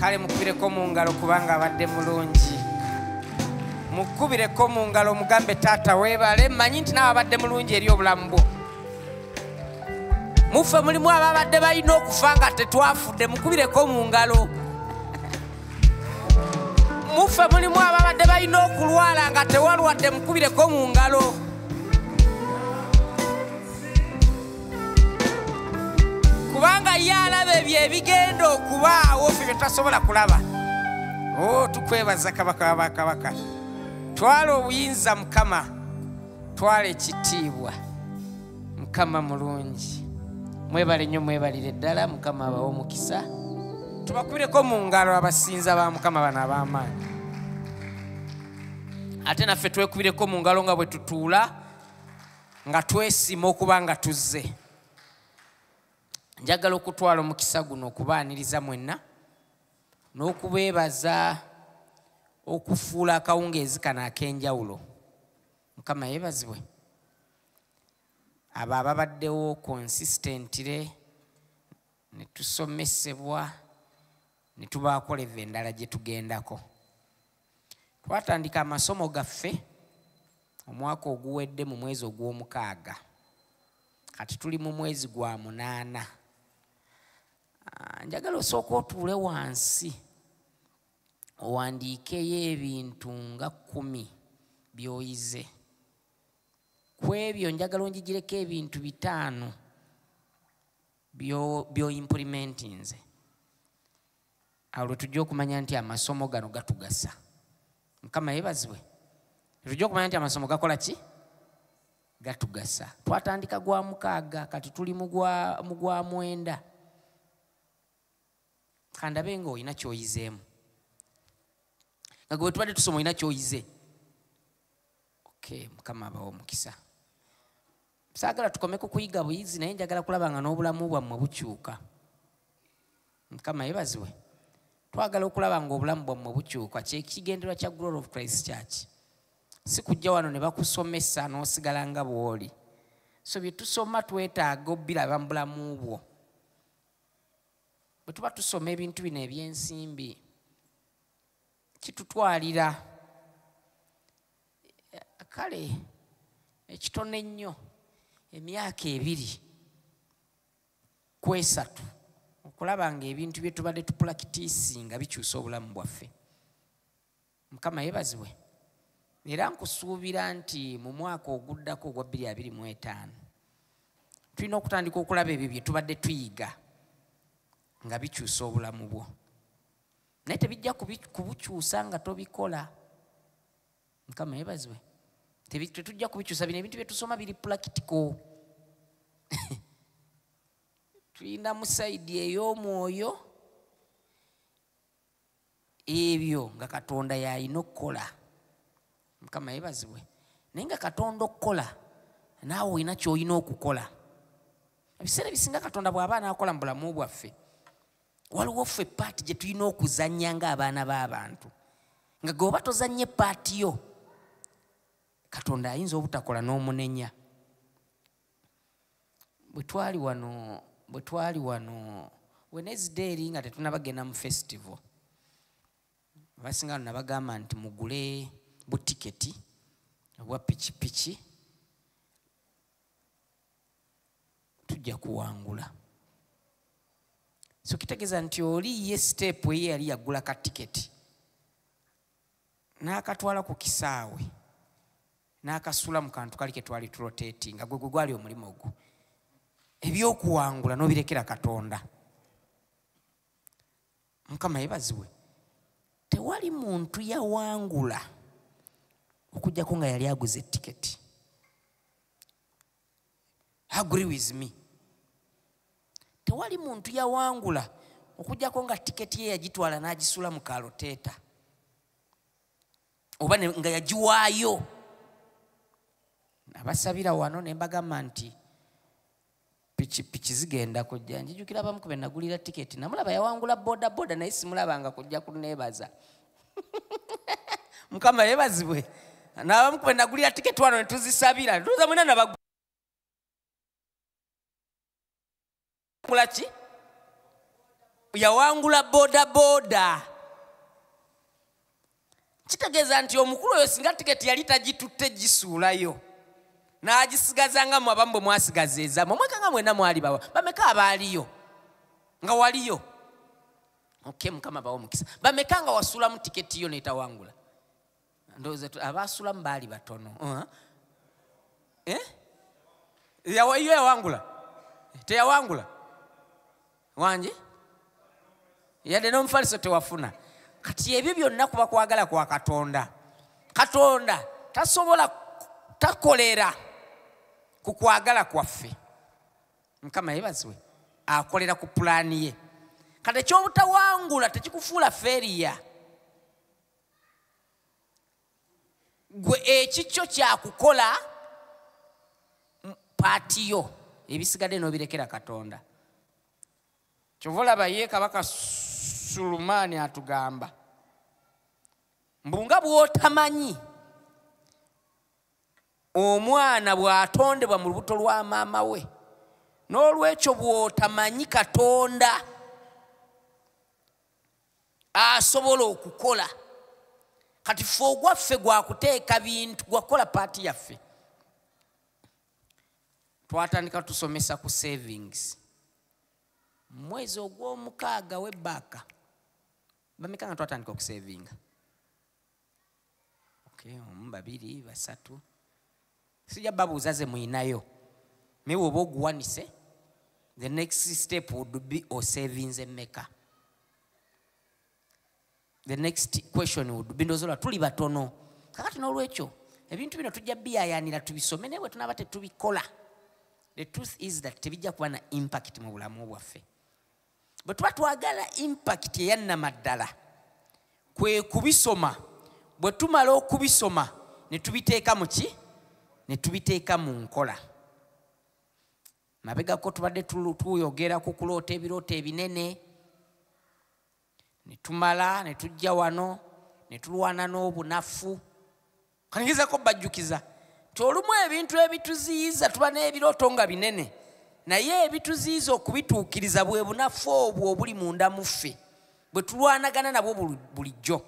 kale mukubireko mu ngalo kubanga abadde mulungi mukubireko mu ngalo omugambe taata webale manyi nti nawe abadde mulungi eri obulamu bwo muffe mulimu ababadde balina okufa nga tetwafudde mukubireko mu ngalo muffe mulimu ababadde balina okulwala nga tewalwadde mukubireko mu ngalo kubanga ye alaba ebyo ebigenda okubaawo fe bye tasobola kulaba o oh, tukwebaza kabaka wabakabaka twala obuyinza mukama twala ekitiibwa mukama mulungi mwebale nnyo mwebalire ddala mukama abawe omukisa tubakubireko mu ngalo abasinza ba mukama bano ab'amaanyi ate naffe twekubireko mu ngalo nga bwe tutuula nga twesima okuba nga tuzze njagala okutwala omukisa guno okubaaniriza mwenna n'okubeebaza okufuula akawungeezi kano ak'enjawulo mukama yeebazibwe abo ababaddewo konsistentire ne tusomesebwa ne tubaakola evva endala gye tugendako twatandika amasomo gaffe omwaka oguwedde mu mwezi ogw'omukaaga kati tuli mu mwezi gwa munaana ah, njagala osooka otuule wansi owandiikeyo ebintu nga kkumi byoyize ku ebyo njagala onjigireko ebintu bitaano byoimpurimentinze awo lwetujja okumanya nti amasomo gano gatugasa mukama yebazibwe lwetujja okumanya nti amasomo gakola ki gatugasa twatandika gwa mukaaga kati tuli mugwa mwenda kandabe nga olina kyoyizeemu nga gwe tubadde tusoma olina kyoyize okay mukama abawo omukisa saagala tukome ku kuyiga buyizi naye njagala kulaba nga n'obulamu bwammwe bukyuka mukama yebaziwe twagala okulaba nga obulamu bwammwe bukyuka kyekigenderwa kya glory of christ church si kujja wano ne bakusomesa n'osigala nga bw'oli so bye tusoma twetaaga obiraba mu bulamu bwo bwe tuba tusoma ebintu bino eby'ensimbi kitutwalira kale ekitono ennyo emyaka ebiri kwesatu okulaba nga ebintu bye tubadde tupulakitiisi nga bikyusa obulamu bwaffe mukama yebazibwe era nkusuubira nti mu mwaka oguddako ogwa 225 tulina okutandika okulaba ebyo bye tubadde tuyiga nga bikyusa obulamu bwo naye tebijja kubukyusa nga tobikola mukama yebazibwe tetujja kubikyusa bino ebintu byetusoma biri pulakitiko tulina musaidi ey'omwoyo ebyo nga katonda yalina okukola mukama yebazibwe naye nga katonda okukola naawe olina kyolina okukola ebiseera ebisinga katonda bw'aba anaakola mu bulamu bwaffe waliwo ffe paati gye tulina okuzannya ng'abaana b'abantu nga geoba tozannye paati yo katonda ayinza obutakola n'omunenya bwe twali wano bwe twali wano wenezide eri nga tetunabagenda mu festival abasinga no nabagamba nti mugule butiketi obwa pikipiki tujja kuwangula so kitegeeza nti oli ye siteepu eye yali yagula ka tiketi n'akatwala ku kisaawe n'akasula mu kantu kali ke twali turoteeti nga gwe gwe gwali omulimu ogwo ebyokuwangula n'obirekera katonda mukama yebaziwe tewali muntu yawangula okujjako nga yali aguza etiketi agree with me tewali muntu yawangula okujjako nga tiketi ye yagitwala n'agisula mu kaloteeta oba nga yagiwaayo abasabira wano ne mbagamba nti pikipiki zigenda kujja njijukira abamu ku benagulira tiketi namulaba yawangula bodaboda naye simulabanga kujja kuneebaza mukama yebazibwe nabamu ku benagulira tiketi wano netuzisabira tuza mwena nabagula ki yawangula bodaboda kitegeeza nti omukulu oyo singa tiketi yali tagitutte gisuulayo n'agisigaza nga mwe abamu bwe mwasigaza ezamu omweka nga mwena mwali bawa bameka abaaliyo nga waliyo oke mukama bawa omukisa bameka nga wasuulamu tiketi yo netawangula ndowooza abaasulamu baali batono uh-huh. eh? yo yawangula teyawangula wangi yadde n'omufaliso tewafuna kati ebyo byonna kuba kwagala kwa katonda katonda tasobola takolera ku kwagala kwaffe mukama yebazibwe akolera ku pulaani ye kati ekyobutawangula tekikufuula feriya gwe ekikyo kyakukola paatiyo ebisigadde nobirekera katonda kyova olaba ye kabaka sulumaani atugamba mbu nga bwotamanyi omwana bwatondebwa mu lubuto lwa maama we n'olwekyo bwotamanyi katonda asobola okukola kati fe ogwaffe gwakuteeka bintu gwakukola paati yaffe twatandika tusomesa ku savings mwezi ogwomukaaga webaaka bameka nga twatandika okusavinga okay, omu babiri basatu sijja babuuza ze muyinayo naye woba oguwanise the next step would be osavinze meka the next question would be ndozola tuli batono kakati n'olwekyo ebintu bino tujja biyayanira tubisome naye bwe tunaaba tetubikola the truth is that tebijja kuba na impact mu bulamu bwaffe bwe tuba twagala impakiti eyannamaddala kwe kubisoma bwe tumala okubisoma ne tubiteeka mu ki ne tubiteeka mu nkola mabegako tubadde tuyogera ku kuloota ebirooto ebinene ne tumala ne tujja wano ne tulwana n'obunafu kanigezako bajjukiza nti olumu ebintu ebituziyiza tuba n'ebirooto nga binene naye ebituziyiza okubituukiriza bwe bunafu obwo obuli munda mu ffe bwe tulwanagana nabwo bulijjo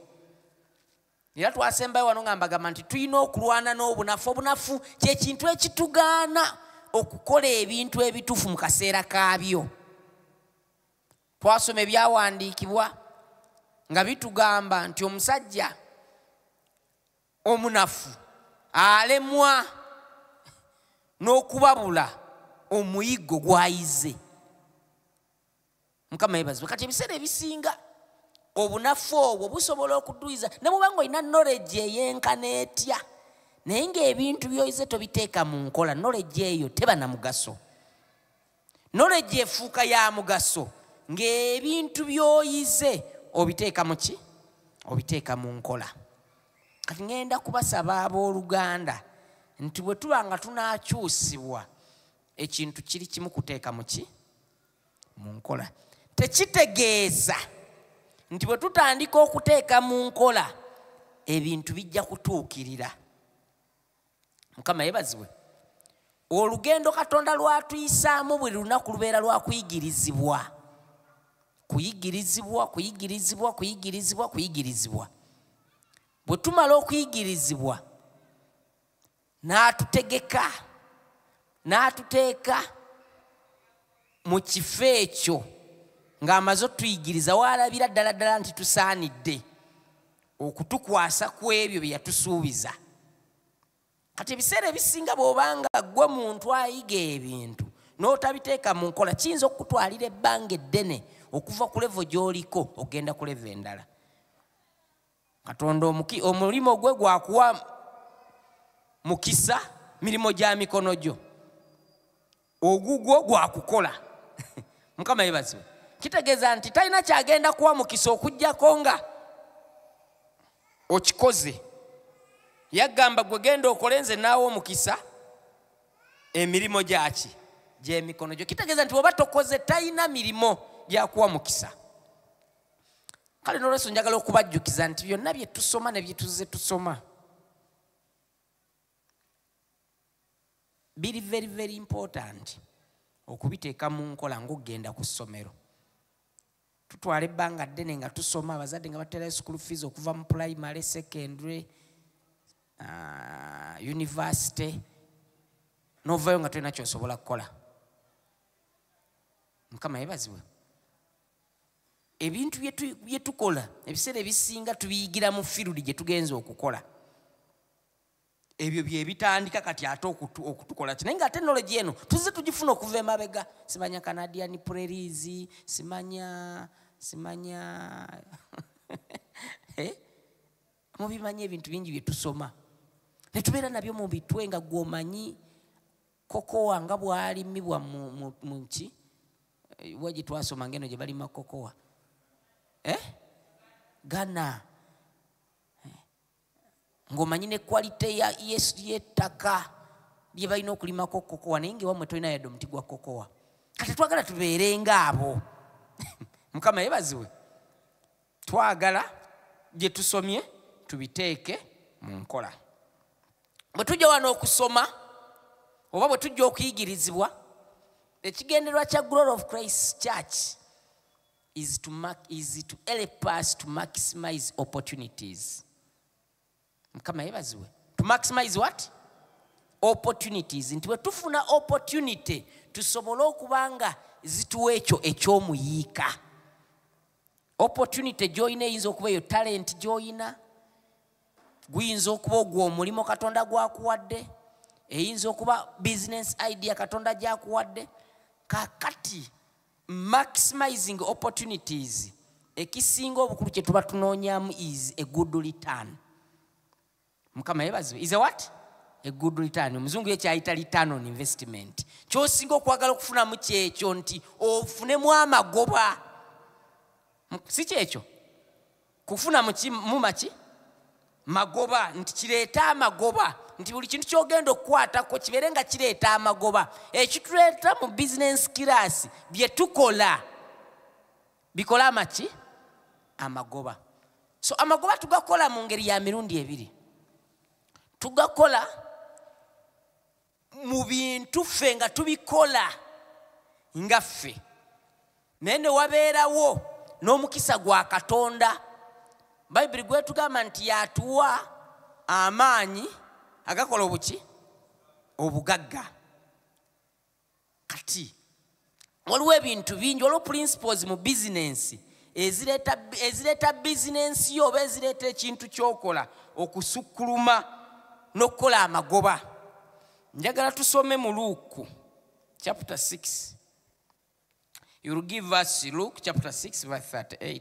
era twasembayo wano nga mbagamba nti tulina okulwana n'obunafu obunafu kyekintu ekitugaana okukola ebintu ebituufu mu kaseera kaabyo twasoma ebyawandiikibwa nga bitugamba nti omusajja omunafu alemwa n'okubabula omuyiggo gwayize mukama yebazibwe kati ebiseera ebisinga obunafu obwo busobola okuduyiza ne muba nga olina noleji eyenkana etya naye ngaebintu byoyize tobiteeka mu nkola noleji eyo teba na mugaso nolegi efuuka ya mugaso ng'ebintu by'oyize obiteeka mu ki obiteeka mu nkola kati ŋenda kubasaba ab'oluganda nti bwe tuba nga tunaakyusibwa ekintu kiri kimu kuteeka mu ki mu nkola tekitegeeza nti bwe tutandika okuteeka mu nkola ebintu bijja kutuukirira mukama yebazibwe olugendo katonda lwatuyisaamu buli lunaku lubeera lwakuyigirizibwa kuyigirizibwa kuyigirizibwa kuyigirizibwa kuyigirizibwa bwe tumala okuyigirizibwa n'atutegeka n'atuteeka mu kifo ekyo ng'amaze otuyigiriza waalabira ddala ddala nti tusaanidde okutukwasa ku ebyo bye yatusuubiza kati ebiseera ebisinga bw'obanga gwe muntu ayiga ebintu n'otabiteeka mu nkola kiyinza okukutwalira ebbanga eddene okuva ku levo gy'oliko ogenda ku levo endala katonda omulimu gwe gwakuwa mukisa mirimu gya mikono gyo ogugwo gwakukola mukama yebaziwe kitegeeza nti talina kyagenda kuwa mukisa okugyako nga okikoze yagamba gwe genda okole nze naawe omukisa emirimu gyaki gyemikono gyo kitegeeza nti oba tokoze talina mirimu gyakuwa mukisa kale nolweso njagala okubajjukiza nti byonna byetusoma nebyetuzze tusoma biri very very important okubiteeka mu nkola ngaokugenda ku ssomero tutwala ebbanga ddene nga tusoma abazadde nga baterayo school fees okuva mu primary secondary uh, university novayo nga tolina kyosobola kukola mukama yebaziwe ebintu byetukola ebiseera ebisinga tubiyigira mu firudi gyetugenza okukola ebyo byebitandika kati ate okutukola kinaye nga ate knowlege eno tuze tugifuna okuva emabega simanya canadian prerisi simanya simanya eh? mubimanyi ebintu bingi byetusoma netubeera nabyo mu bitwe nga gwomanyi kokowa nga bwalimibwa mu nki eh, wa gyetwasoma ngaeno gye balima kokowa eh? gana ng'omanyi ne kwalite y'ettaka lye balina okulimako kokowa naye ngaewamwe tolina yadde omuti gwa kokowa kati twagala tubeere ngaabo mukama yebaziwe twagala gye tusomye tubiteeke mu nkola bwe tujja wano okusoma oba bwe tujja okuyigirizibwa ekigendererwa kya glory of christ church is to, mark, is to help us to maximize opportunities mukama yebaziwe to maximize what opportunities nti wetufuna opportunity tusobole okuba nga zituwa ekyo ekyomuyiika opportunity gyoyina eyinza okuba eyo talent gyoyina guyinza okuba ogwo omulimu katonda gwakuwadde eyinza okuba business idea katonda gyakuwadde kakati maximizing opportunities ekisinga obukulu kyetuba tunoonyamu is a good return mukama yebazibe is a what a good return omuzungu yekyayita return on investment kyosinga okwagala okufunamu kyekyo nti ofunemu amagoba si kyekyo kufuna mumaki magoba nti kireeta amagoba nti buli kintu kyogenda okukwatako kibeere nga kireeta amagoba ekituleeta mu bizinensi kiraasi bye tukola bikola amaki amagoba so amagoba tugakola mu ngeri ya mirundi ebiri tugakola mu bintu ffe nga tubikola nga ffe naye ne wabeerawo n'omukisa gwa katonda bayibuli gwetugamba nti yatuwa amaanyi agakola obuki obugagga kati waliwo ebintu bingi waliwo principles mu bizinensi ezireeta bizinensi yo oba ezireeta ekintu kyokola okusukkuluma n'okukola amagoba njagala tusome mu luuku chapter 6 youll give us luke chapter 6 verse 38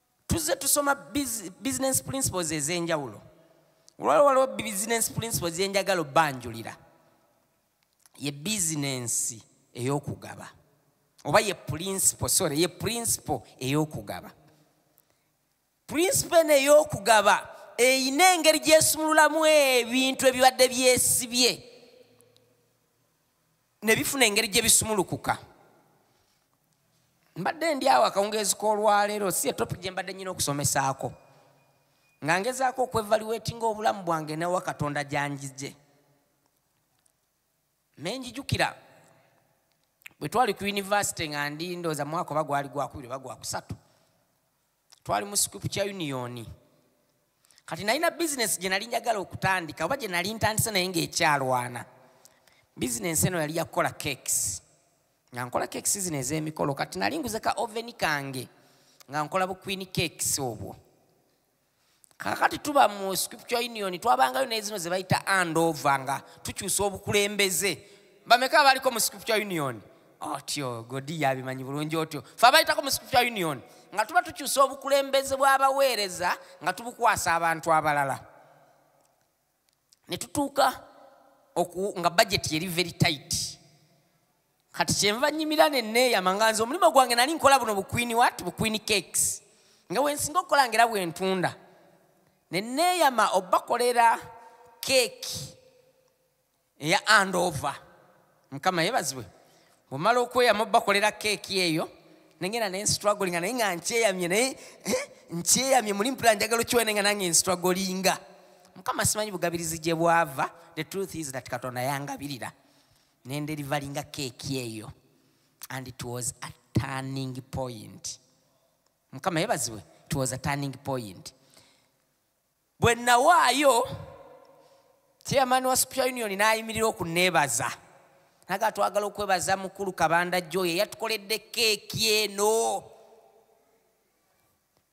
tuzze tusoma business principles ez'enjawulo olwali waliwo business principles zenjagala obanjulira ye bizinensi ey'okugaba oba ye principle sorry ye principle ey'okugaba principle ney'okugaba eyina engeri gyesumululamu ebintu ebibadde byesibye nebifuna engeri gye bisumulukuka mbadde ndi awo akawungeezi k'olwaleero si etopic gye mbadde nyina okusomesaako nga ngezaako okwevaliweetinga obulamu bwange newa katonda gyanjije naye njijukira bwe twali ku yunivasite nga ndi ndooza mwaka oba gwali gwakubiri oba gwakusatu twali mu scripture union kati nalina bizinesi gye nali njagala okutandika oba gye nali ntandise naye ng'ekyalwana bizinesi eno yali yakukola cakes nga nkola cakes zino ez'emikolo kati nali nguze ka oven kange nga nkola bukwini cakes obwo kakati tuba mu scripture union twabangayo naye zino zebayita andova nga tukyusa obukulembeze bameka abaliko mu scripture union otyo godi yabimanyi bulungi otyo fe abayitako mu scripture union nga tuba tukyusa obukulembeze bw'abaweereza nga tubukwasa abantu abalala ne tutuuka nga bajeti yeri very tight kati kyenva nyimira neneeyama nga nze omulimu gwange nali nkola buno bukwini wat bukwini cakes nga wensinga okukola ngaera bwentunda neneeyama obakolera keeki eya andova mukama yebazibwe bwemala okweyamu bakolera keeki eyo nengenda naye nstragolinga naye nga nkyeyamye naye eh, nkyeyamye muli mpula njagala okiwene nga nange nstragolinga mukama simanyi bugabirizi gye bwava the truth is that katonda yangabirira nenderivalinga keeki eyo and it was a turning point mukama yebazibwe it was a turning point bwe nawaayo chairman wa supia union n'ayimirira okuneebaza naga twagala okwebaza mukulu kabanda joyo eyatukoledde keeki eno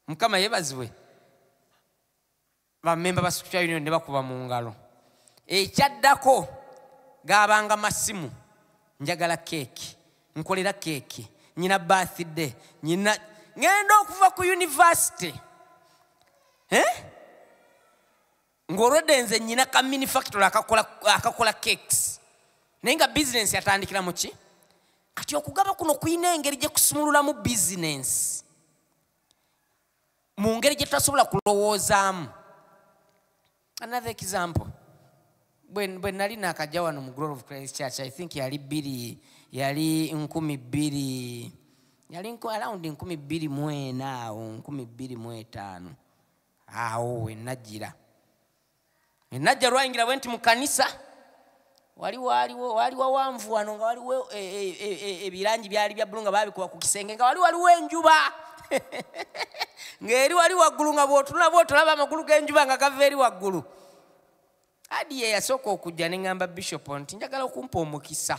mukama yebazibwe bamemba ba supia union ne bakuba mu ngalo ekyaddako gaabanga masimu njagala keeki nkolera keeki nyina birthday nyina ŋenda okuva ku univesity eh? ng'olwedde nze nyina ka minifactory akakola cakes naye nga bizinensi yatandikira mu ki kati okugaba kuno kulina engeri gye kusumululamu bizinensi mu ngeri gye tutasobola kulowoozaamu another example bwe nali nakajja wano mu glory of christ church i think yali bbiri yali nkumi bbiri yali around nkumi bbiri mu ena awo nkumi bbiri mu etaano awo wenajjira enajja lwayingira bwe nti mu kanisa wali waliwo wali wawanvu wano nga waliwo ebirangi e, e, e, byali bya bbulu nga babikuba ku kisenge nga wali waliwo enjuba ng'eri wali waggulu nga bwotunula bwotulaba amagulu g'enjuba nga gava eri waggulu adi ye yasooka okujja ne ŋŋamba bishop nti njagala okumpa omukisa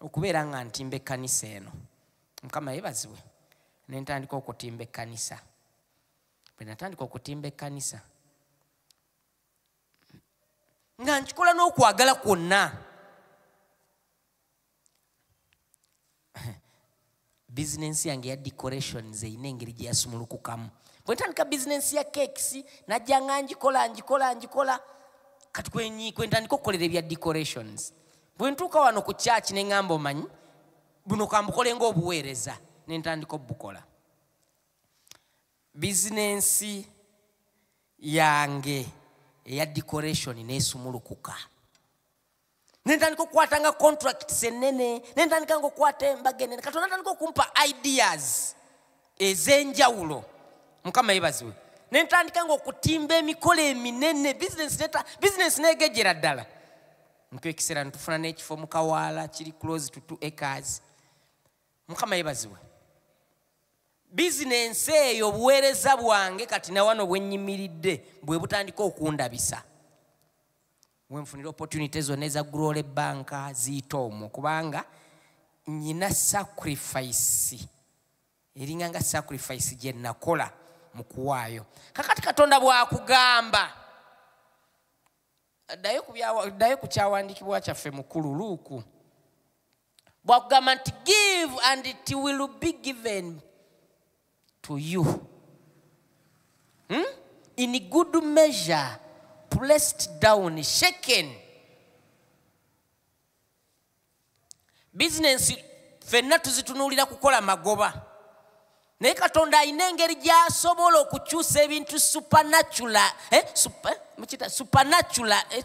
okubeera nga ntimba ekkanisa eno mukama yebaziwe ne ntandika okutimba ekkanisa bwe natandika okutimba ekkanisa nga nkikola n'okwagala kwonna bizinensi yange ya decorations erina engeri gye yasumulukukamu bwe ntandika bizinensi ya cakes najja nga ngikola ngikola ngikola kati kwentandika okukolera ebya decorations bwe ntuuka wano ku kyaki ne ŋamba omanyi buno kambukole ngaobuweereza ne ntandika obubukola bizinensi yange eya decoration nesumulukuka nentandika okukwatanga contracts enene nentandika nga okukwata embaga enene katonda ntandika okumpa ideas ezenjawulo mukama yebaziwe nentandika nga okutimba emikolo eminene bizinesi negejera ddala ntwekiseera netufuna n'ekifo mukawaala kiri close to two acres mukama yebazibwe bizinensi eyo obuweereza bwange kati nawano bwenyimiridde bwe butandika okundabisa wenfunira opportunity zonna eza grole banka ziyita omwo kubanga nyina sacrifice eringa nga sacrifice gye nakola mu kuwaayo kakati katonda bwakugamba ddayo ku kyawandiikibwa kyaffe mukulu luuku bwakugamba nti give and it will be given to you hmm? in good measure pressed down shaken bizinensi fenna tuzitunuulira kukola magoba naye katonda alina engeri gyasobola okukyusa ebintu supanatula eh, mukita supanatula eh,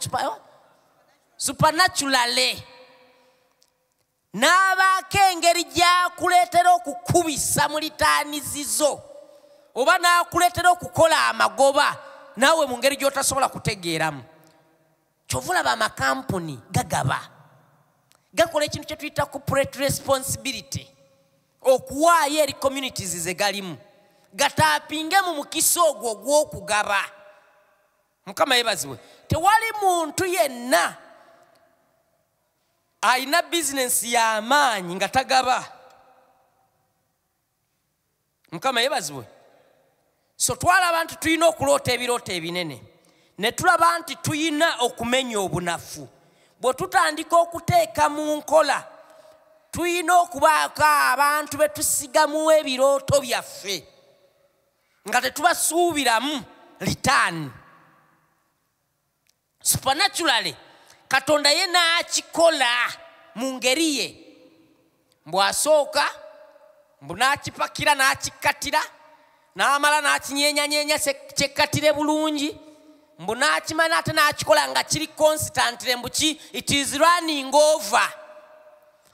supanaturale eh, n'abaako engeri gyakuleetera okukubisa mu litaanizizo oba n'akuleetera okukola amagoba naawe mu ngeri gy'otasobola kutegeeramu kyova olaba amakampuni gagaba gakola ekintu kyetuyita corporate responsibility okuwaayo eri communities zegalimu gataapinge mu mukisa ogwo ogw'okugaba mukama yebaziwe tewali muntu yenna alina bizinensi y'amaanyi nga tagaba mukama yebazibwe so twalaba nti tulina okuloota ebirooto ebinene ne tulaba nti tulina okumenya obunafu bwe tutandika okuteeka mu nkola tulina okubaako abantu be tusigamu ebirooto byaffe nga tetubasuubiramu litaani supernaturally katonda ye n'akikola mu ngeri ye mbu asooka mbu n'akipakira n'akikkattira n'amala n'akinyenyanyeenya kyekkatire bulungi mbu n'akimala ate n'akikola nga kiri constantire mbu ki it is running over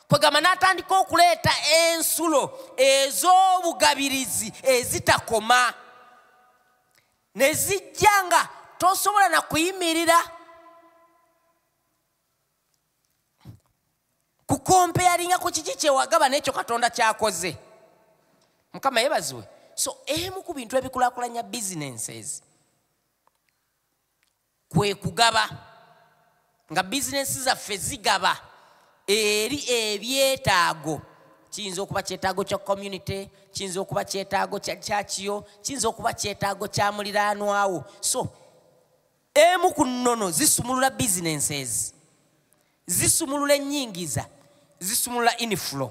kwegamba n'atandika okuleeta ensulo ez'obugabirizi ezitakoma ne zijja nga tosobola na kuyimirira kukompeyalinga ku kiki kyewagaba n'ekyo katonda kyakoze mukama yebaziwe so emu ku bintu ebikulakulanya businesses kwe kugaba nga bizinensi zaffe zigaba eri ebyetaago kiyinza okuba kyetaago kya community kiyinza okuba kyetaago kya kyakiyo kiyinza okuba kyetaago kya muliraanwawo so emu ku nnono zisumulula bizinensi ezi zisumulula ennyingiza zisumulula inflow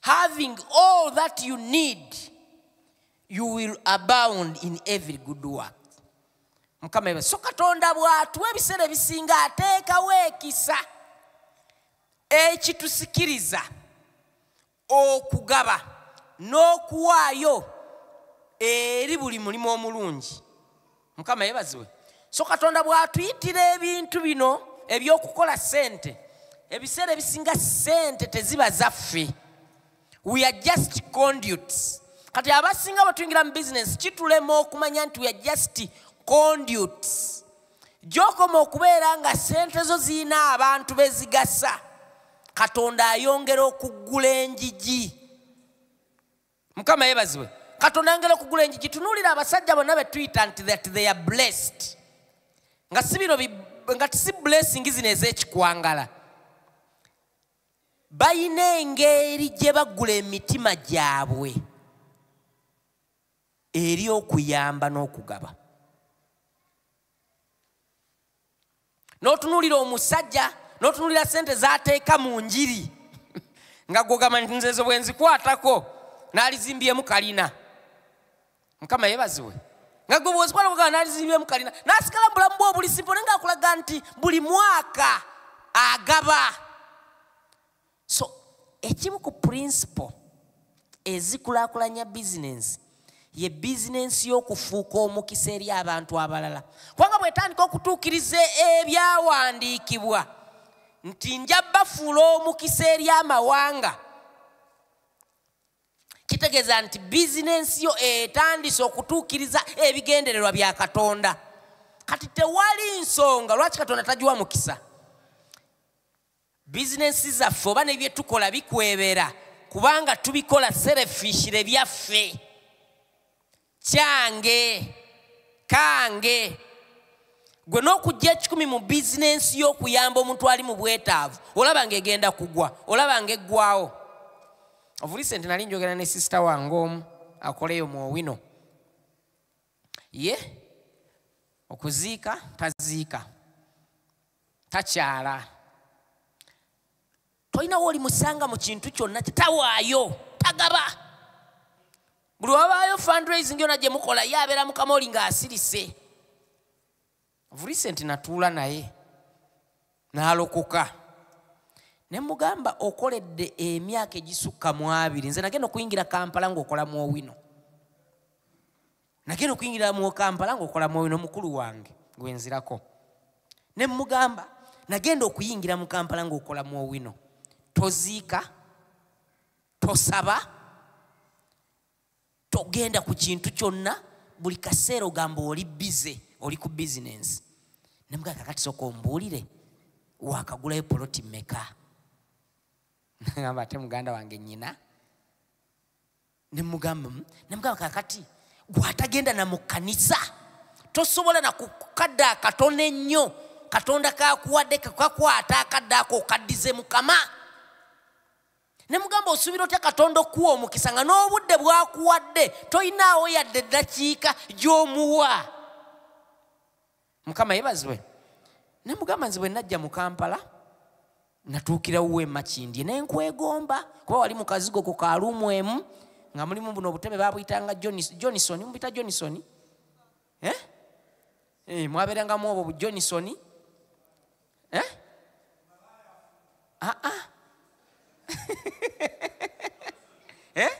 having all that you need you will abound in every good work mukama eba so katonda bw'atuwa ebiseera ebisinga ateekawo ekisa ekitusikiriza okugaba n'okuwaayo eri buli mulimu omulungi mukama yebazibwe so katonda bw'atuyitira ebintu bino ebyokukola sente ebiseera ebisinga sente teziba zaffe we are just conduits kati abasinga batuyingira mu bizinesi kitulema okumanya nti we are just conduits gyokoma okubeera nga sente zo zirina abantu bezigasa katonda ayongera okuggula enjiji mukama yebazibwe katonda ayongera okugula enjiji tunuulira abasajja bonna be tuyita nti that they are blessed nga si bino nga tisi blessing zino ez'ekikwangala balina engeri gye bagula emitima gyabwe eri okuyamba n'okugaba n'otunuulira omusajja n'otunuulira sente z'ateeka mu njiri nga gwogamba nti nzezo bwe nzikwatako n'alizimbyemu kalina mukama yebaziwe nga gwe bwezikwata kugamba n'alizimbyemu kalina n'asigala mu bulamu bw'obulisimpo naye ngaakulaga nti buli mwaka agaba so ekimu ku principle ezikulakulanya bizinensi ye bizinensi y'okufuuka omukisa eri abantu abalala kubanga bwetandika okutuukiriza ebyawandiikibwa nti nja bafuula omukisa eri amawanga kitegeeza nti bizinensi yo etandise okutuukiriza ebigendererwa bya katonda kati tewali nsonga lwaki katonda tagiwa mukisa bizinensi zaffe oba ne bye tukola bikwebera kubanga tubikola serefishire byaffe kyange kange gwe n'okujja ekikumi mu bizinensi y'okuyamba omuntu ali mu bwetaavu olaba nga egenda kugwa olaba nga eggwawo ovulise nti nali njogera ne sisita wange omu akoleyo mu owino ye okuziika taziika takyala tolinawo oli musanga mu kintu kyonna tawaayo tagaba buli wabaayo fundraising yona gye mukola ye abeera mukama oli ng'asirise vurisenti natuula naye n'alokoka ne mugamba okoledde emyaka egisukka mu abiri nze nagenda okuyingira kampala ng'okola mu owino nagenda okuyingira mu kampala ngaokola mwoyo nomukulu wange gwenzirako ne mugamba nagenda okuyingira mu kampala ngaokola mwowino toziika tosaba togenda ku kintu kyonna buli kaseera ogamba oli bize oli ku bizinensi nemugamba kakati soka ombuulire wakagulayo poloti meka nagamba ate muganda wange nyina nemugamba hmm? nemugamba kakati gwatagenda na mu kanisa tosobola na kukadde akatono ennyo katonda kakuwadde kekakwata akadde ako okaddize mukama ne mugamba osuubira otya katonda okuwa omukisa nga n'obudde bwakuwadde tolinaawo yadde eddakiika gy'omuwa mukama yebazibwe nemugamba nze bwe najja mu kampala natuukirawo emakindye naye nkwegomba kuba wali mukazigo ku kaluumu emu nga mulimu buno obutebe babuyitanga johnson mubita johnson eh? eh, mwabeerangamu obwo bu johnson eh? ah, ah. eh?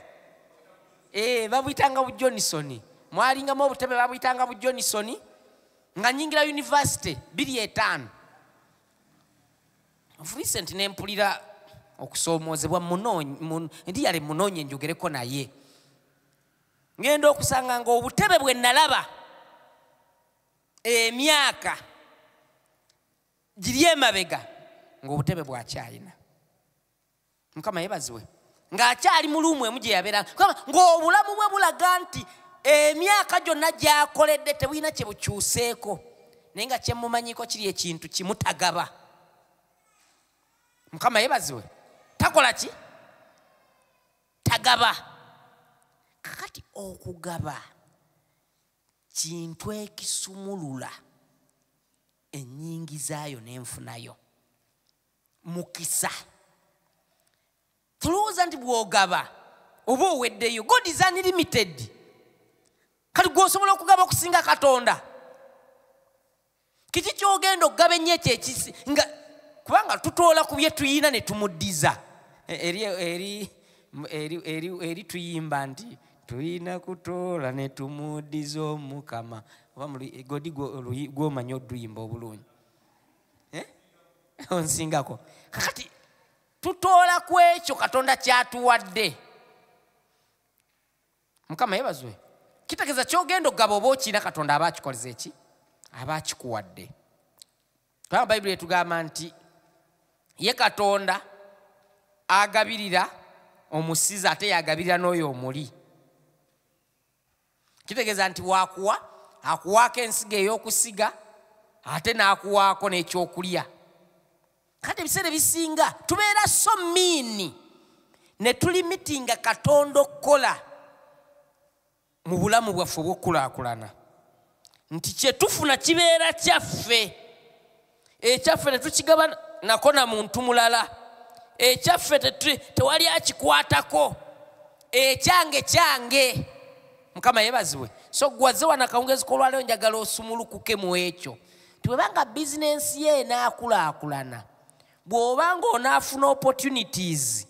eh, babuyitanga bu johnson mwalingamu obutebe babuyitanga bu johnson nga nyingira univesity biri etaano recent nempulira okusoomoozebwa ndi yali munoonye njogereko naye ngenda okusanga nga obutebe bwe nalaba emyaka giri emabega ngaobutebe bwakyalina mukama yebaziwe ngaakyali mu luumu emu gyeyabeera ngaobulamu bwe bulaga nti emyaka gyonna gyakoledde tebulina kyebukyuseeko naye nga kyemumanyiko kiri ekintu kimutagaba mukama yebaziwe takola ki tagaba kakati okugaba kintu ekisumulula enyingizaayo nenfunayo mukisa tulowooza nti bwogaba oba oweddeyo god is unlimited kati gwosobola okugaba okusinga katonda kiki kyogenda okugaba ennyo ekyo ekisi nga kubanga tutoola ku bye tuyina ne tumuddiza e, eri eri eri eri eri tuyimba nti tulina kutoola ne tumuddiza omukama oba godi gwomanyi oduyimba obulungi eh? onsingako kakati tutoola ku ekyo katonda kyatuwadde mukama yebazwe kitegeeza kyogenda okugaba oba okiina katonda aba akikoleza eki aba akikuwadde kubanga bayibuli etugamba nti ye katonda agabirira omusiza ate yagabirira n'oyo omuli kitegeeza nti wakuwa akuwaako ensiga ey'okusiga ate n'akuwaako n'ekyokulya kati ebiseera ebisinga tubeera so miini ne tulimitinga katonda okukola mu bulamu bwaffe obw'okukulaakulana nti kyetufuna kibeera kyaffe ekyaffe ne tukigaba nako na muntu mulala ekyaffe tewali akikwatako ekyange kyange mukama yebazibwe so gwaze wanakawungezi kolwaleo njagala osumulukuke mu ekyo nti bweba nga bizinensi ye enaakulaakulana bw'oba ng'onaafuna opportunities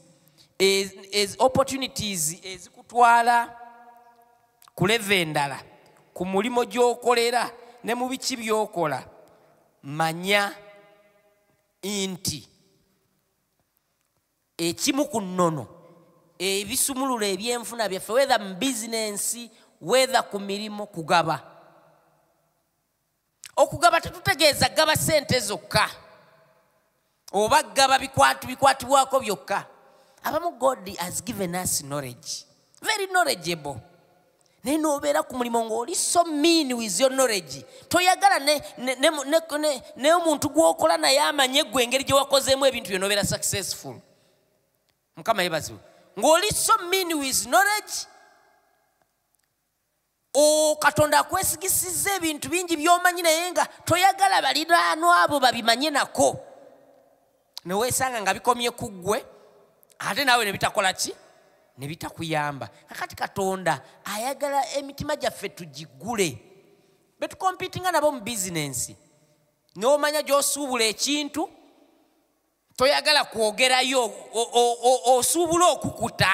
opportunities ezikutwala ku leve endala ku mulimu gy'okolera ne mu biki by'okola manya nti ekimu ku nnono ebisumulula ebyenfuna byaffe wetha mu bizinensi wetha ku mirimu kugaba okugaba tetutegeeza gaba sente zokka oba gaba bikwatu bikwatibwako byokka abamu god has given us knowledge very knowledgeable naye nobeera ku mulimu ngaoli so mean with your knowledge toyagala naye omuntu gwokola naye amanye gwe engeri gyewakozeemu ebintu byo nobeera successful mukama yebaziwe ngaoli so mean with knowledge katonda akwesigisizza ebintu bingi byomanyi naye nga toyagala baliraano abo babimanye nako neweesanga nga bikomye ku ggwe ate naawe nebitakola ki nebitakuyamba kakati katonda ayagala emitima gyaffe tugigule betukompitinga nabo mu bizinensi neomanya gyosuubula ekintu toyagala kwogerayo osuubula okukuta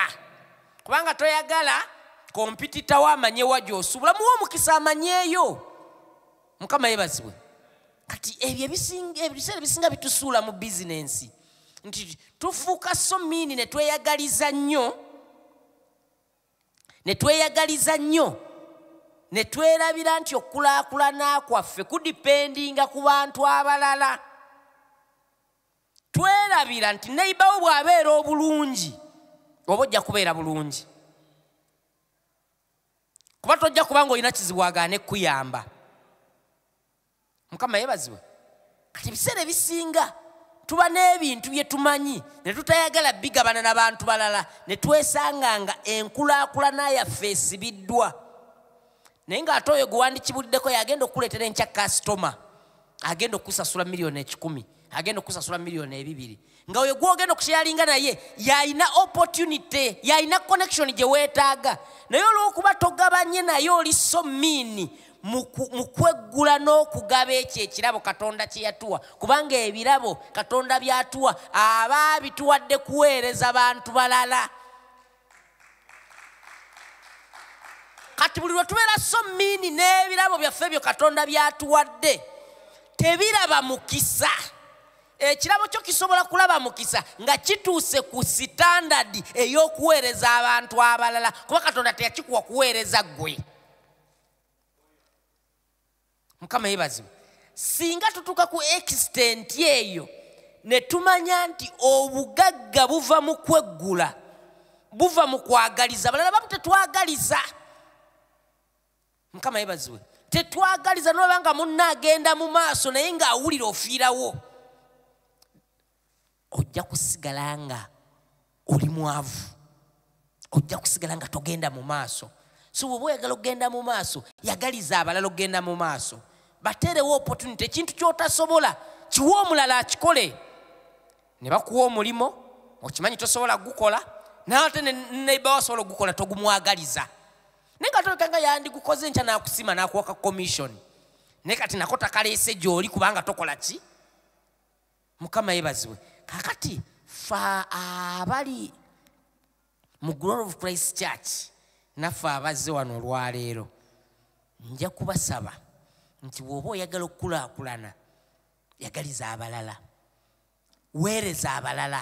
kubanga toyagala kompititawo amanyewa gyosubula muwa omukisa amanyeeyo mukama yebazibwe kati ebyo ebiseera ebisinga bitusuula mu bizinensi nti tufuuka so miini ne tweyagaliza nnyo ne tweyagaliza nnyo ne twerabira nti okukulaakulana kwaffe kudipendinga ku bantu abalala twerabira nti neyibawo bw'abeera obulungi oba ojja kubeera bulungi kuba tojja kuba nga olina kizibu agaana ekkuyamba mukama yebazibwe kati ebiseera ebisinga tuba n'ebintu bye tumanyi ne tutayagala bigabana na bantu balala ne twesanga nga enkulaakulana yaffe esibiddwa naye ng'ate oyo gwe wandikibuliddeko yagenda okukuleetera enkya kasitoma agenda okusasula miliyoni ekikumi agenda okusasula miliyoni ebibiri nga oyo gwogenda okusheyalinga naye yalina opportunity yalina connection gye weetaaga naye olw'okuba togabanye naye oli so miini mu kweggula n'okugaba ekyo ekirabo katonda kye yatuwa kubanga ebirabo katonda byatuwa aba abituwadde kuweereza bantu balala kati buli lwe tubeera so miini n'ebirabo byaffe ebyo katonda byatuwadde tebiraba mukisa ekirabo kyo kisobola kulaba mukisa nga kituuse ku sitandadi ey'okuweereza abantu abalala kuba katonda teyakikuwa kuweereza ggwe mukama yebazibwe singa tutuuka ku ekisitenti eyo ne tumanya nti obugagga buva mu kweggula buva mu kwagaliza balala bamu tetwagaliza mukama yebazibwe tetwagaliza nolaba nga munna agenda mu maaso naye ng'awulira ofiirawo ojja kusigala nga oli mwavu ojja kusigala nga togenda mu maaso so bweoba oyagala okugenda mu maaso yagaliza abalala okugenda mu maaso bateerewo opportunity ekintu kyotasobola kiwe omulala akikole ne bakuwa omulimu okimanyi tosobola kugukola naate neiba wasobola okugukola togumwagaliza naye nga toleka nga yandigukoze nkya nakusima nakuwaka commission naye kati nako takaleese gyoli kubanga tokola ki mukama yebazibwe kakati fa abali mu glory of christ church naffe abazze wano olwaleero nja kubasaba nti bw'oba oyagala okukulaakulana yagaliza abalala weereza abalala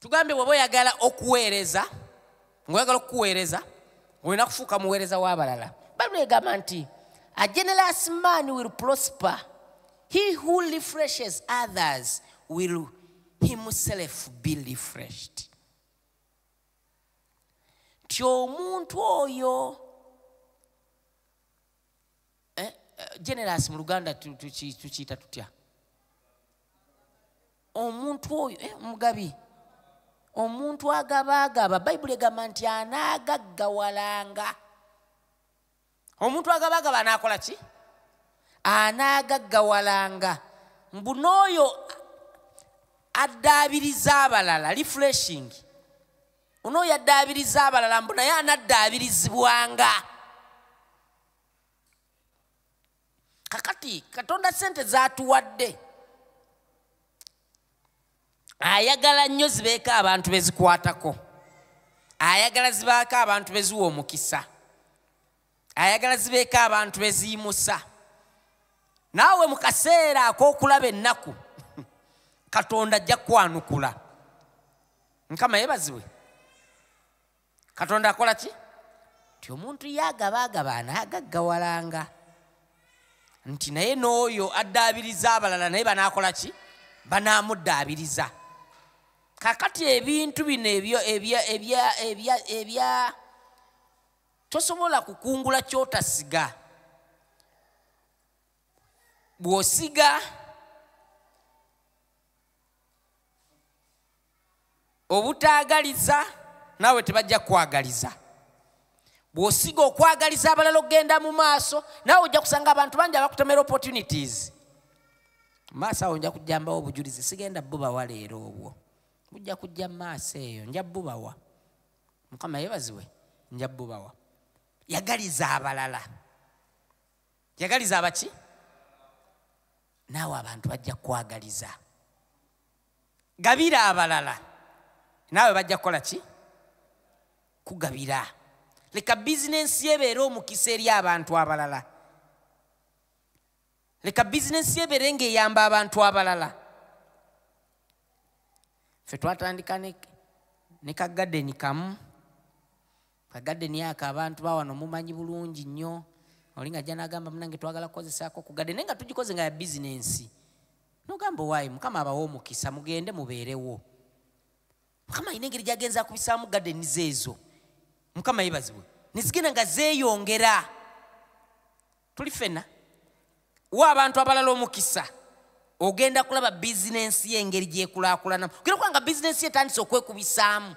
tugambye bwoba oyagala okuweereza ngaoyagala okukuweereza olina kufuuka muweereza w'abalala bayibuli egamba nti a generous man will prosper he who refreshes others will himself be refreshed nti omuntu oyo eh, eh, generous mu luganda tukiyita tutya omuntu oyo eh, mugabi omuntu agabaagaba bayibuli egamba nti anaagaggawalanga omuntu agabaagaba anaakola ki anaagaggawalanga mbu n'oyo addaabiriza abalala refreshing onooyo addaabiriza abalala mbu naye anaddaabirizibwanga kakati katonda sente zatuwadde ayagala nnyo zibeeko abantu bezikwatako ayagala zibaako abantu beziwa omukisa ayagala zibeeko abantu beziyimusa naawe mu kaseera ak'okulaba ennaku katonda ajja kwanukula nkama yebazibwe katonda akola ki nti omuntu yagabaagaba anaagaggawalanga nti naye n'oyo addaabiriza abalala naye banaakola ki banaamuddaabiriza kakati ebintu bino ebyo ebya ebya ebya ebya tosobola kukungula kyotasiga bw'osiga obutaagaliza naawe tebajja kukwagaliza bw'osiga okwagaliza abalala okugenda mu maaso naawe ojja kusanga abantu bangi abakutomera opportunities maaso awo nja kujjambawo obujulizi sigenda bubawa leero obwo mujja kujja maaso eyo nja bubawa mukama yebaziwe nja bubawa yagaliza abalala yagaliza abaki naawe abantu bajja kukwagaliza gabira abalala naawe bajja kukola ki kugabira leka bizinensi yebeere omukisa eri abantu abalala leka bizinensi yebeere ngaeyamba abantu abalala fe twatandika ne kagadeni kamu kagadde niyaka abantu bawano mumanyi bulungi nnyo oli nga janagamba munange twagala kukozesaako kugadde naye nga tugikoze nga ya bizinensi nogamba owaayi mukama abawa omukisa mugende mubeerewo mukama alina engeri gyagenza akubisaamu gadeni zeezo mukama yebazibwe nezigenda nga zeeyongera tuli fena wa abantu abalala omukisa ogenda kulaba bizinensi ye engeri gyekulakulanamu gera kubanga bizinensi ye etandise okwekubisaamu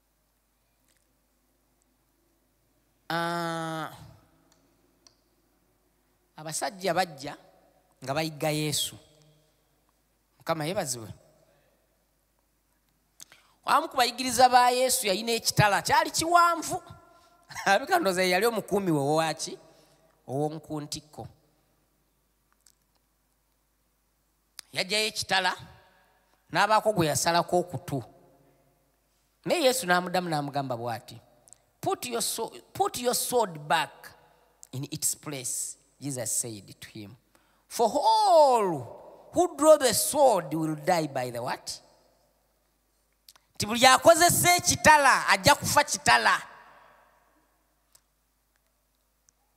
ah, abasajja bajja nga bayigga yesu mukama yebazibwe wamu ku bayigiriza ba yesu yalina ekitala kyali kiwanvu abika ndoza yali omukuumi we owaki ow'omukuntikko yajjayo ekitala n'abaako gwe yasalako okutu naye yesu n'amudamu n'amugamba bw'ati put your, sword, put your sword back in its place jesus said to him for all who draw the sword will die by the what nti buli akozesa ekitala ajja kufa kitala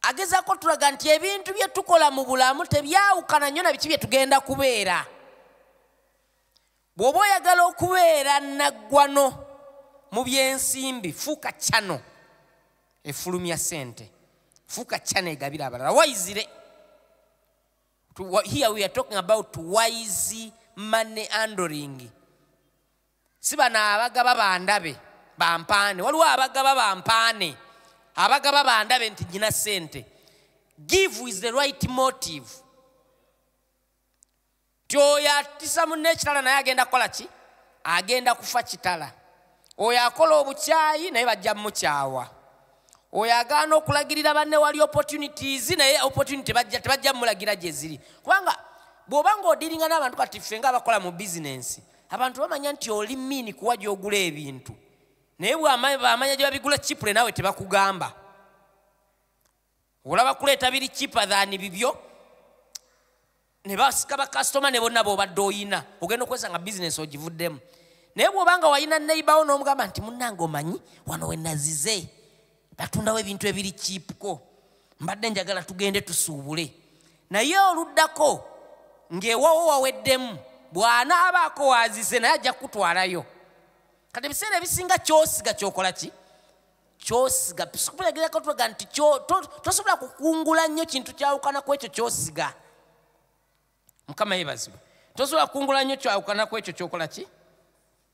agezaako tulaga nti ebintu bye tukola mu bulamu tebyawukana nnyo na biki bye tugenda kubeera bw'oba oyagala okubeera naggwano mu byensimbi fuuka cano efulumya sente fuuka cano egabira abalala waizire here we are talking about wise money andering si bano abagaba bandabe bampaane waliwo abagaba bampaane abagaba bandabe nti nyina sente give is the right motive ti oyo atisa munne ekitala naye agenda kukola ki agenda kufa kitala oyo akola obukyayi naye bajja mukyawa oyo agaana okulagirira banne wali opportunities naye opportunity tebajja mulagira gyeziri kubanga bw'oba nga odiringa n'abantu kati ffe nga abakola mu bizinensi abantu bamanya nti oli miini kuwa gyogula ebintu naye bwamanya gye babigula kipule naawe tebakugamba olaba kuleeta biri kipa than bibyo ne basika bakasitoma ne bonna bobadde oyina ogenda okozesa nga bizinesi ogivuddemu naye bwobanga wayina neibawo n'omugamba nti munnange omanyi wano wenazize batundawo ebintu ebiri kiipuko mbadde njagala tugende tusuubule naye oluddako ng'ewawo waweddemu bw'anaabaako waazize naye ajja kukutwalayo kati ebiseera ebisinga kyosiga kyokola ki kyosiga sikubiragerako tulaga nti tosobola kukungula nnyo kintu kyawukana ku ekyo kyosiga mukama yebazibwe tosobola kukungula nnyo kyawukana ku ekyo kyokola ki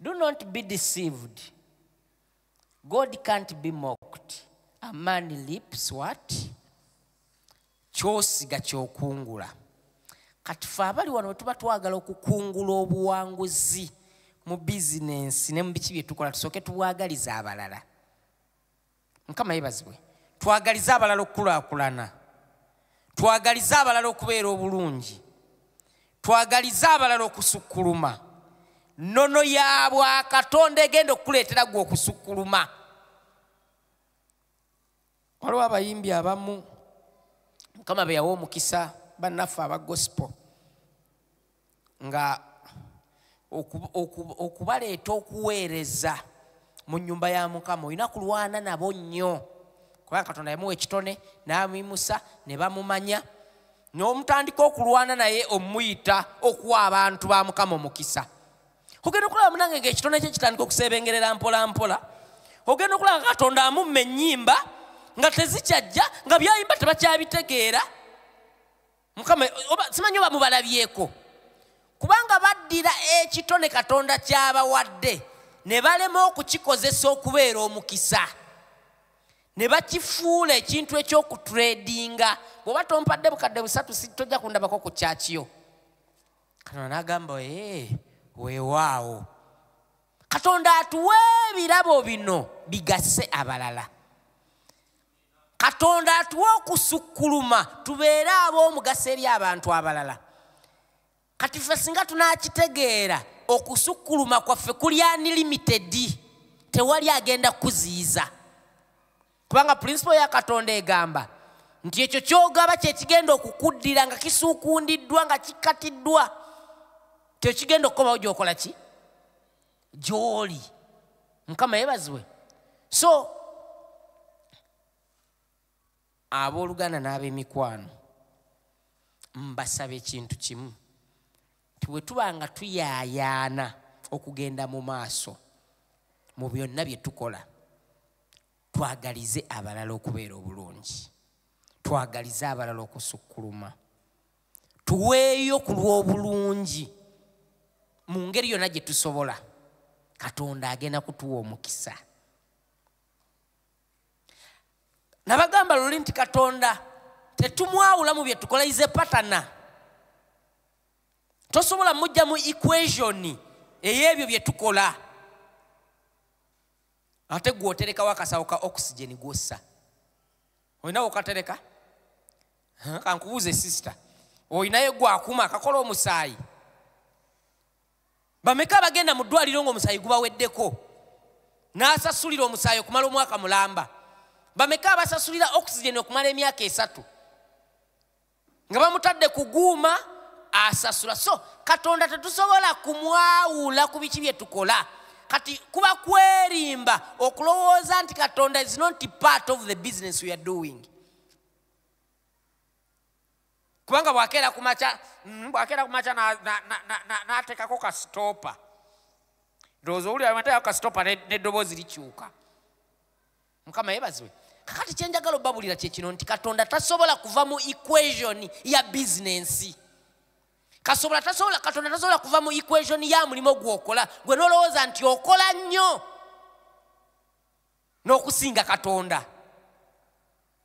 Do not be deceived. God can't be mocked. A man lips what? Kyosiga kyokungula. Kati fe abali wano tuba twagala okukungula obuwanguzi mu bizinensi ne mu biki bye tukola tusooke tubwagaliza abalala. mukama yebazibwe twagalize abalala okukulakulana twagalize abalala okubeera obulungi twagalize abalala okusukkuluma nono ya bwakatonda egenda okukuleetera gwe okusukkuluma waliwo abayimbi abamu mukama beyawa omukisa bannaffe aba gospel nga okubaleeta okuweereza mu nyumba ya mukama olina kulwana nabo nnyo kubanga katonda yamuwa ekitone n'abimusa ne bamumanya n'omutandika okulwana naye omuyita okuwa abantu ba mukama omukisa ogenda okulaba munange nga ekitone kye kitandika okuseebengerera mpola mpola ogenda okulaba nga katonda amumma ennyimba nga tezikyajja nga byayimba tebakyabitegeera mukama simanyi oba mubalabyeko kubanga baddira ekitone katonda kyabawadde ne balema okukikozesa okubeera omukisa ne bakifuula ekintu ekyokutredinga bweoba tompadde bukadde busatu tojja kundabako ku kyakiyo katonda nagamba ee weewaawo katonda atuwa ebirabo bino bigase abalala katonda atuwa okusukkuluma tubeere ab'omugaso eri abantu abalala kati ffe singa tunakitegeera okusukkuluma kwaffe kuli anilimitedi tewali agenda kukuziyiza kubanga pulinsipo ya katonda egamba nti ekyo kyogaba kyekigenda okukuddira nga kisuukundiddwa nga kikkatiddwa kyekigenda okukomawo gyokola ki gy'oli mukama yebazibwe so abooluganda n'ab'emikwano mbasaba ekintu kimu ti bwe tuba nga tuyaayaana okugenda mu maaso mu byonna bye tukola twagalize abalala okubeera obulungi twagalize abalala okusukkuluma tuweeyo ku lw'obulungi mu ngeri yonna gye tusobola katonda agenda kutuwa omukisa nabagamba luli nti katonda tetumwawula mu bye tukola ize patana tosobola mujja mu equation ey'ebyo bye tukola ate gwoterekawo akasawo ka oxygen gwossa olina wokatereka kankubuuze sisita olinaye gwakuma akakola omusaayi bameka abagenda mu ddwaliro ngaomusaayi gubaweddeko n'asasulira omusaayi okumala omwaka mulamba bameka abasasulira oxygen okumala emyaka esatu nga bamutadde kuguuma asasula so katonda tetusobola kumwawula ku biki bye tukola kati kuba kwerimba okulowooza nti katonda is not part of the business weare doing kubanga bwakeera kumaca mm, bwakeera kumaca nateekako kasitopa ndowooza owulira mateekako kasitopa n'eddoboozi likyuka mukama yebazibwe kakati kyenjagala obabulira kyekino nti katonda tasobola kuva mu equation ya bizinensi kasobola tasobola katonda tasobola kuva mu equation ya mulimu gwokola gwe nolowooza nti okola nnyo n'okusinga katonda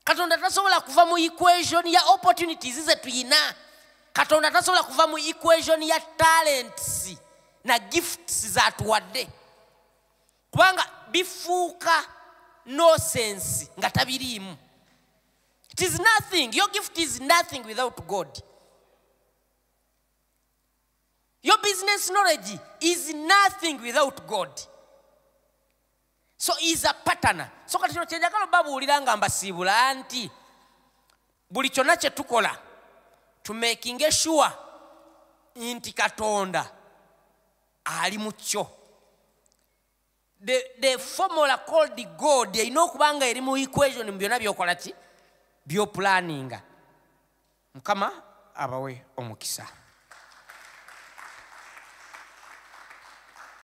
katonda tasobola kuva mu equation ya opportunities ze tuyina katonda tasobola kuva mu equation ya talents na gifts zatuwadde kubanga bifuuka nosensi nga tabiriimu it is nothing your gift is nothing without god your business knowledge is nothing without god so is a patana so kati kino kyenjagala obabuulira nga mbasiibula nti buli kyonna kye tukola tumakinge sure nti katonda ali mu kyo the, the formula called god erina okuba nga eri mu equation mu byonna byokola ki byopulaninga mukama abawe omukisa